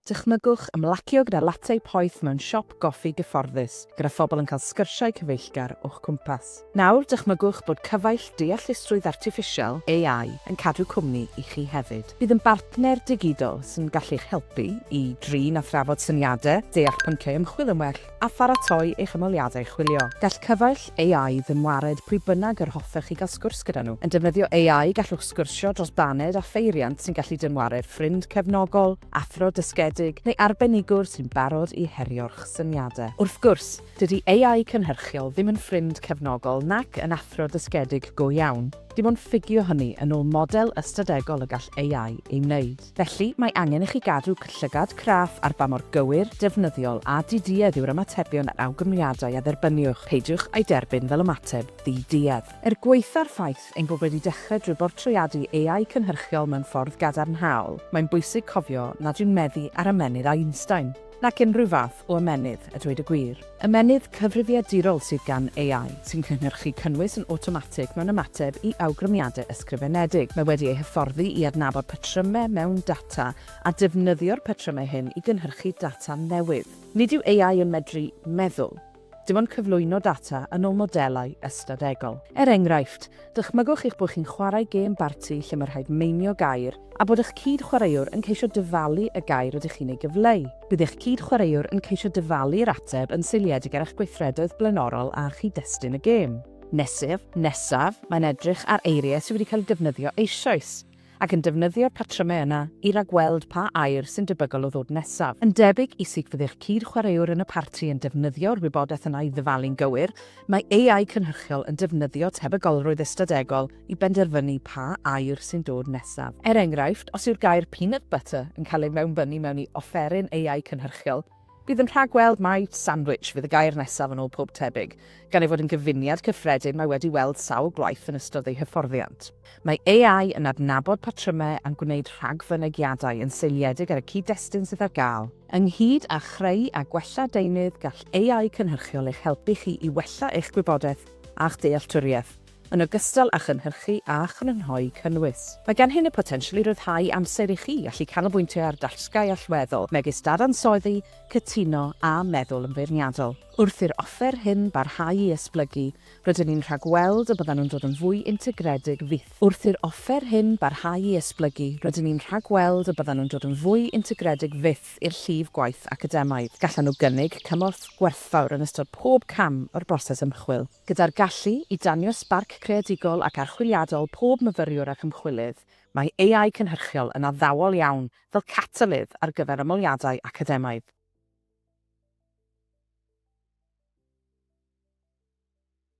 Dychmygwch ymlacio gyda latte poeth mewn siop goffi gyfforddus, gyda phobl yn cael sgyrsiau cyfeillgar o'ch cwmpas. Nawr, dychmygwch bod cyfaill deallusrwydd artiffisial, AI, yn cadw cwmni i chi hefyd. Bydd yn bartner digidol sy'n gallu'ch helpu i drin a thrafod syniadau, deall pynciau ymchwil yn well, a pharatoi eich ymholiadau chwilio. Gall cyfaill AI ddim wared pwy bynnag yr hoffech chi gael sgwrs gyda nhw. Yn defnyddio AI, gallwch sgwrsio dros baned â pheiriant sy'n gallu dynwared ffrind cefnogol, athro dysgedig, neu arbenigwr sy'n barod i herio'ch syniadau. Wrth gwrs, dydy AI cynhyrchiol ddim yn ffrind cefnogol nac yn athro dysgedig go iawn. Dim ond ffugio hynny yn ôl model ystadegol y gall AI ei wneud. Felly, mae angen i chi gadw llygad craff ar ba mor gywir, defnyddiol a di-duedd yw'r ymatebion a'r awgrymiadau a dderbyniwch, peidiwch â'i derbyn fel ymateb ddi-duedd. Er gwaetha'r ffaith ein bod wedi dechrau drwy bortreadu AI cynhyrchiol mewn ffordd gadarnhaol, mae'n bwysig cofio nad yw'n meddu ar ymennydd Einstein. Nac unrhyw fath o ymennydd, a dweud y gwir. Ymennydd cyfrifiadurol sydd gan AI, sy'n cynhyrchu cynnwys yn awtomatig mewn ymateb i awgrymiadau ysgrifenedig. Mae wedi ei hyfforddi i adnabod patrymau mewn data a defnyddio'r patrymau hyn i gynhyrchu data newydd. Nid yw AI yn medru meddwl. Dim ond cyflwyno data yn ôl modelau ystadegol. Er enghraifft, dychmygwch eich bod chi'n chwarae gêm barti lle mae rhaid meinio gair a bod eich cyd-chwaraewr yn ceisio dyfalu y gair rydych chi'n ei gyfleu. Bydd eich cyd-chwaraewr yn ceisio dyfalu'r ateb yn seiliedig ar eich gweithredoedd blaenorol a chyd-destun y gêm. Nesaf, nesaf, mae'n edrych ar eiriau sydd wedi cael eu defnyddio eisoes. ac yn defnyddio'r patrymau yna i ragweld pa air sy'n debygol o ddod nesaf. Yn debyg i sut fyddai'r cyd-chwaraewr yn y parti yn defnyddio'r wybodaeth yna i ddyfalu'n gywir, mae AI cynhyrchiol yn defnyddio tebygolrwydd ystadegol i benderfynu pa air sy'n dod nesaf. Er enghraifft, os yw'r gair 'peanut butter' yn cael ei mewnbynnu mewn i offeryn AI cynhyrchiol, Bydd yn rhagweld mai 'sandwich' fydd y gair nesaf yn ôl pob tebyg, gan ei fod yn gyfuniad cyffredin mae wedi weld sawl gwaith yn ystod ei hyfforddiant. Mae AI yn adnabod patrymau a'n gwneud rhagfynegiadau yn seiliedig ar y cyd-destun sydd ar gael. Ynghyd â chreu a gwella deunydd, gall AI cynhyrchiol eich helpu chi i wella eich gwybodaeth a'ch dealltwriaeth. yn ogystal â chynhyrchu a chrynhoi cynnwys. Mae genhyn y potensial i ryddhau amser i chi allu canolbwyntio ar dasgau allweddol, megis dadansoddi, cytuno a meddwl yn feirniadol. Wrth i'r offer hyn barhau i esblygu, rydyn ni'n rhagweld y byddan nhw'n dod yn fwy integredig fyth. Wrth i'r offer hyn barhau i esblygu, rydyn ni'n rhagweld y byddan nhw'n dod yn fwy integredig fyth i'r llif gwaith academaidd. Gallan nhw gynnig cymorth gwerthfawr yn ystod pob cam o'r broses ymchwil. Gyda'r gallu i danio sbarc creadigol ac archwiliadol pob myfyriwr ac ymchwilydd, mae AI cynhyrchiol yn addawol iawn fel catalydd ar gyfer ymholiadau academaidd.